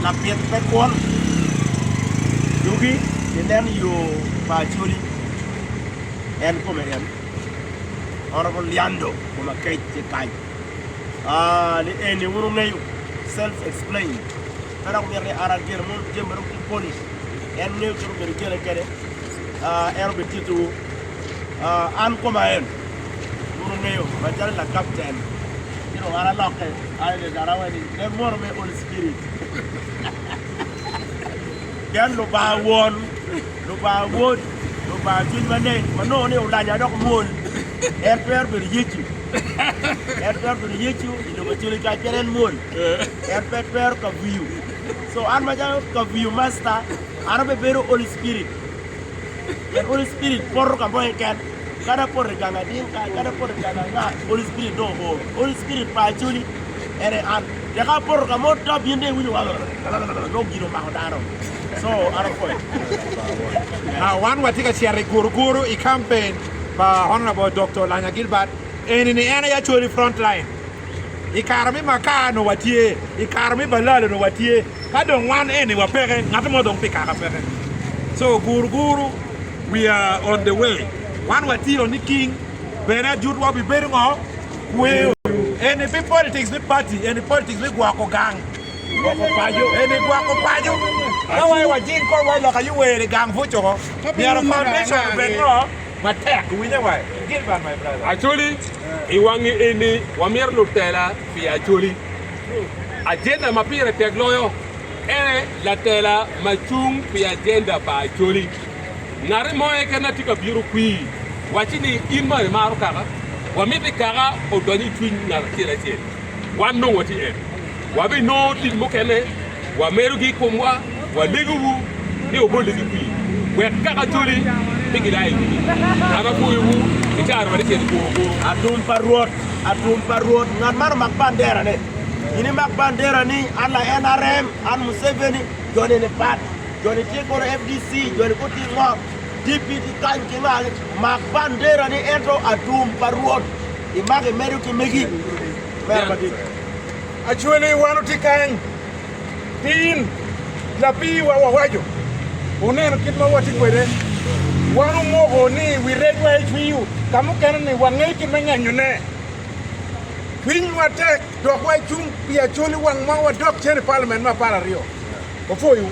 Lapit me kwon yugi ginen i yo pa Acholi, en kome en, Honourable Liando Komakech Cekaj. Ah, ni eni wun wungeyo, self explained. Pe dok myero ni an agen mon jami ma dong tye pol, en ngeyo kit ma myero igene kwede, ah, en obitittiwu. Ah, an koma en. Gurungeyo macalo lakapten ci dong an alokke aye ni kara wai ni en mwono me Holy Spirit. Pien Lubanga Won, Lubanga Wod, Lubanga Cwiny Maleng ma nongo ni olanya dok mwol, en twero bedo Yecu. En twero bedo Yecu i lobo acoli kany pien en mwol. En pe twero kaviyo. So an macalo kaviyo masta, an abebedo Holy Spirit. The Holy Spirit poto ka mo keken, kadi apoto i gang ading kany, kadi apoto i gang anga, Holy Spirit dong ooro. Holy Spirit pa Acholi en aye an. Pien ka apoto ka mo to abino dong iwinyo walalalala nongo gin omako dano. So an apwoyo. Now wan watye ka cito i Guruguru i campaign pa Honourable Doctor Lanya Gilbert, eni ni en aye Acholi Frontline. I kare me Maka onongo watye, i kare me Balal onongo watye, ka dong wan eni wa peke, ngat mo dong pi kaka peke. So guru guru we are on the way, wan watye o niking bene ajut wa obibedo ngo, kweo. Eni pe politics me party, eni politics me gwoko gang, gwoko paco, eni gwoko paco. Ka wa i wajing kong wa i loka UWERE gang buco, myero foundation obed ngo? Acholi, I wangi eni, wamito lutela pi Acholi. Ajenda ma pire tek loyo en aye latela ma cung pi ajenda pa Acholi. Ngati mo keken na tye ka bino kwii, wacci ni in ma imaro kaka, wamito ni kaka odonyo i cwiny ngat acel acel, wan dong watye en. Wabinongo tic mukene. Wamerogi i komwa, walegowu ni wubole ki kwir, wek ka kacoli pe gila i wigi, ka ma kurowu i caro ma lacen kuro kwo. Atum pa Rwot, atum pa Rwot, ngat man omak banderane. In imak bandera ni, an lae NRM, an Museveni, joni ni pat, joni tye kono FDC, joni kono tye ngo, DP ki kany ki nga ni, mak bandera ni ento atum pa Rwot, imako imedo ki megi. Mera madit. Actually wan otye kany pin lapiiwa wawaco oneno kit ma watye kwede wan omoko ni wi regwa ecwiyo ka mukene ni wangeyo kit me ngenyo ne cwinywa tek dok wa cung pi actually wang ma wadok cen i parliament me apar aryo opwoyo wu.